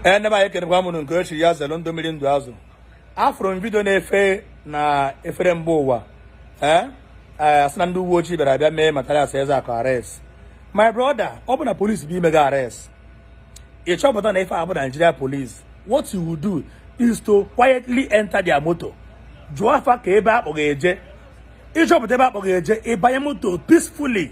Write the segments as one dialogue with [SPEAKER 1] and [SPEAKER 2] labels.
[SPEAKER 1] ee ndị be anyị ekenekwa m ụnụ nke echi ya zere ndụ mmiri ndụ azụ afụrụ m vidio na-efe na efere mba ụwa ee eh, a sị na ndị uwe ojii bịara abịa mee Mathias Ezeaku arrest my brother ọ bụ na police bịa ime gị arrest ị chọpụta na ife a bụ Nigeria police what you will do is to quietly enter their motor jụọ fa kee ebe a kpọ gị eje ị chọpụta ebe a kpọ gị eje ị banye moto peacefully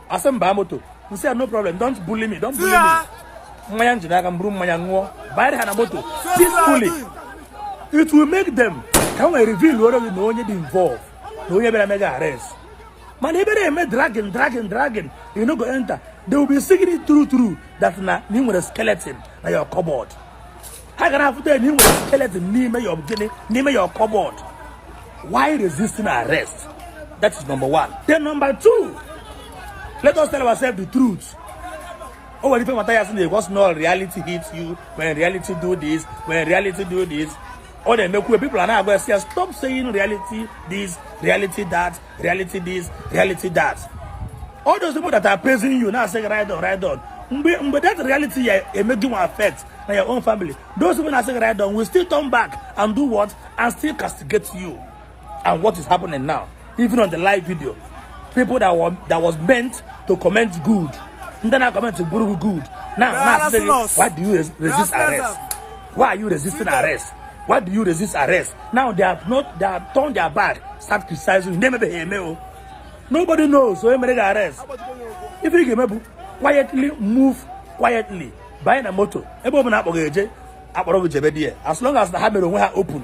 [SPEAKER 1] a sị m baa moto m sị ya no problem don't bully me don't bully me mmanya njide aka m buru mmanya ṅụọ banyere ha na moto peacefully it will make them ka ha wee reveal-ọrọ gị na onye dị involve na onye bịara mee gị arrest mana ebe ị na-eme dragging dragging dragging you no go enter they will be seeing it true true that na na ị nwere skeleton na your cupboard ha ga-afụta na ị nwere skeleton n'ime your gịnị n'ime your cupboard why resisting arrest that is number one then number two let us tell ourselves the truth o nwere ife Mathias na-ekwu sị reality hit you when reality do this when reality do this ọ na-emekwu people are na-agwa ya stop saying reality this reality that reality this reality that all those people that are praising you na-asị gị ride on ride on mgbe mgbe that reality ya-eme gị nwa affect na your own family those people na-asị gị ride on will still turn back and do what and still castigate you and what is happening now even on the live video people that were that was meant to comment good ndị na-comment bụrụ gị good now na-asị gị why do you res- resist arrest Why are you resisting arrest? Why do you resist arrest? Now they have not they have turned their back, start criticizing you. Na emebeghị eme o. Nobody knows onye mere gị arrest. Ife ị ga-eme bụ quietly move quietly banye na moto ebe ọbụla a kpọ gị eje a kpọrọ gị jebe there as long as na ha mere onwe ha open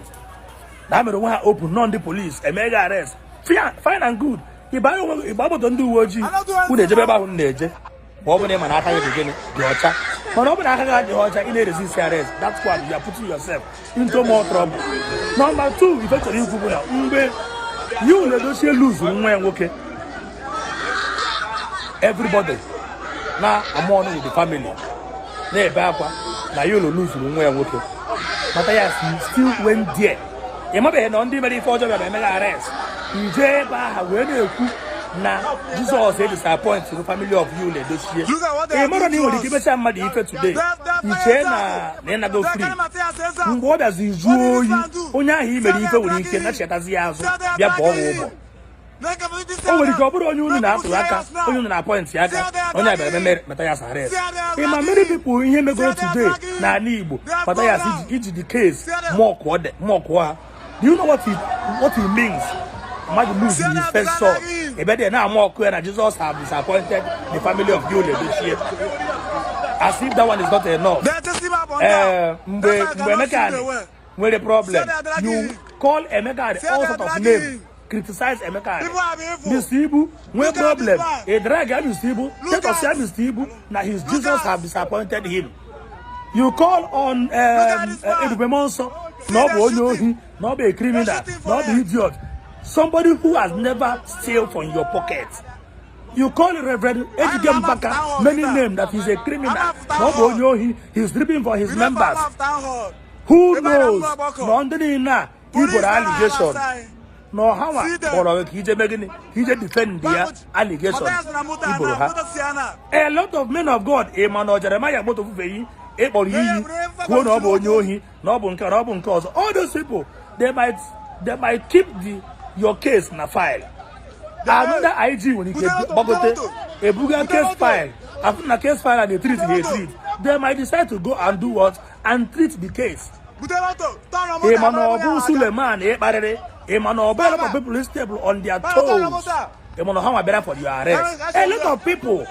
[SPEAKER 1] na ha mere onwe ha open na ọ ndị police emee gị arrest fine and good ị banye onwe gị ị baa moto ndị uwe ojii unu ejebe ebe ahụ unu na-eje ma ọ bụ na ị ma na aka gị dị gịnị dị ọcha mana ọ bụ na aka gị adịghị ọcha ị na-eresist arrest that's why you are putting yourself into more trouble number two ife m chọrọ ikwu bụ na mgbe Yul Edochie luzuru nwa ya nwoke everybody na-amourn with the family na-ebe akwa na Yul luzuru nwa ya nwoke Mathias still went there ị mabeghị na ọ ndị i mere ife ọjọọ bịara mee gị arrest o jee ebe ahụ wee na-ekwu na Jizọs edisappointgo family of Yul Edochie ị mara na ị nwere ike imecha mmadụ ife today i chee na na ị nago free mgbe ọ bịazi juo oyi onye ahụ i mere ife nwere ike na-echetazi ya azụ bịa kwụọ gị ụgwọ o nwere ike ọ bụrụ onye unu na-atụrụ aka onye unu na-apọịntị aka onye abịara ememe Matthias arrest ị ma many people i mejọrọ today n'ala Igbo Matthias i ji the case mọkụọ ha do you know what it, what it means mmadụ lose his first son ị bido na-amọkụ ya na Jesus have disappointed the family of Yul Edochie as if that one is not enough. Eh, mgbe mgbe Emeka nwere problem you call Emeka at all sort of name criticize Emeka at Mr. Ibu nwee problem ị drag ya Mr. Ibu tetọs ya Mr. Ibu na his Jesus have disappointed him you call on um, uh, Ebube Muonso na ọ bụ onye ohi na ọ bụ a criminal na ọ bụ idiot somebody who has never steal from your pocket you call Reverend Ejike Mbaka many names that he's a criminal na ọ bụ onye ohi he's ripping off his members who knows na ndị niile a i boro allegation na ọ hanwa kpọrọ gị ka i je mee gịnị ka i je defend the allegation i boro ha a lot of men of god ị ma na Jeremiah Omoto Fufeyin ị kpọrọ iyi kwuo na ọ bụ onye ohi na ọ bụ nke na ọ bụ nke ọzọ all those people they might they might keep the your case na file another IG nwere ike gbagote ebuga case file afụ na case file na etrit ha etrit they might decide to go and do what and treat the case ị ma na ọ bụ Suleman ị kparịrị ị ma na ọ bụ a lot of people ị stepụrụ on their toes ị ma na hanwa bịara for your arrest a lot of people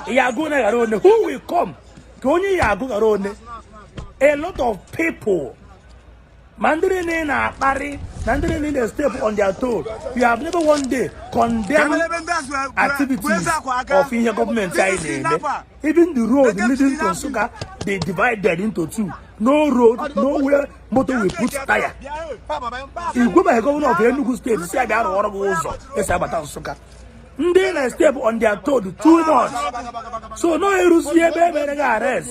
[SPEAKER 1] ya agụ na ghara one who will come ka onye ya agụ ghara one a lot of people ma ndị niile ị na-akparị na ndị niile ị na-step on their toe you have never one day condemn activities of ihe gọọmenti anyị na-eme even the road leading to Nsukka dey divided into two no road no where motor will put tire ị gwabeghị gọvanọ of Enugu steeti sị ya bịa rụọrọ gị ụzọ e si agbata Nsukka ndị ị na-step on their toe too much so now eruzie ebe e mere gị arrest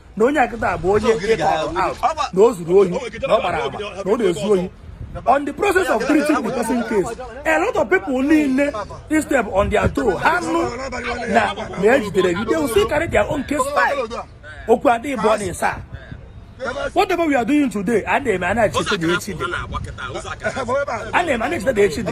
[SPEAKER 1] na onye a kịta bụ onye ị kọrọ out na o zuru ohi na ọ gbara agba na ọ na-ezu ohi on the process of treating the person case a lot of people niile ị step on their toe ha nụ na na e jidere gị they will still carry their own case file okwu adịghị bụ ọ na-esa whatever we are doing today a na-eme a na-echeta na echi dị a na-eme a na-echeta na echi dị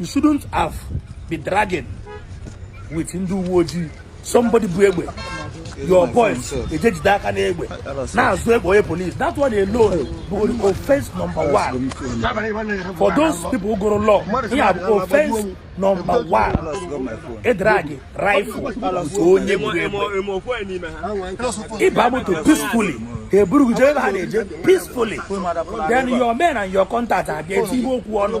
[SPEAKER 1] you shouldn't have be dragging with ndị uwe ojii somebody bu egbe your boys eje jide aka n'egbe na-azọ egbe onye police that one alone bụ offense number one for those people gụrụ law ihe a bụ offense number one ịdragị rifle nke onye bu egbe ị baa moto peacefully ha eburu gị jee ebe ha na-eje peacefully then your men and your contact abịa etinye okwu ọnụ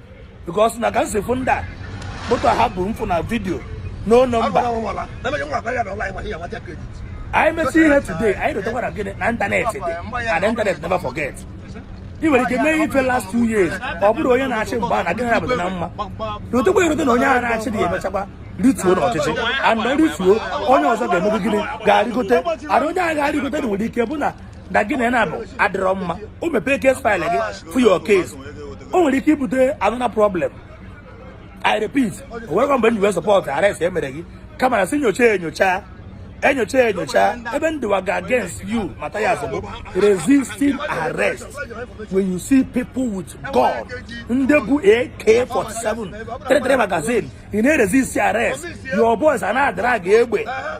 [SPEAKER 1] because na ka nsefu ndị a moto ha bụ mfụ na vidio no nọmba anyị mesi ihe today anyị dotakwara gịnị na ịntanetị dị and ịntanetị never forget ị nwere ike mee ife last two years ọ bụrụ onye na-achị mgbe a na gịnị abụta na mma rotekwa erote na onye a na-achị dị emechakwa rịtuo n'ọchịchị ana rịtuo onye ọzọ ga-eme gịnị ga-arịgote ana onye a ga-arịgote na nwere ike bụ na na gị na na-abụ adịrọ mma o mepee kes faịlụ gị fụ ya okay o nwere ike ibute anụna problem i repeat o nwere mgbe nyiwe support arrest e mere gị kama na si nyocha enyocha enyocha enyocha ebe ndịwa ga against you maka ya bụ resisting arrest when you see people with gun ndị bu ak-47 33 magazine ị na-resist arrest your boys a na-adara gị egbe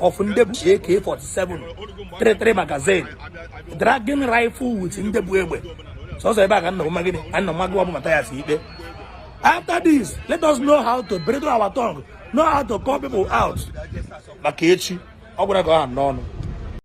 [SPEAKER 1] of ndị bu AK47 33 magazine dragging rifle with ndị bu egbe sọsọ ebe a ka nna nwa gịnị nna nwa gị ọ bụ mata ya si ikpe after this let us know how to bridle our tongue know how to call people out maka echi ọ gwara ka ọ ha n'ọnụ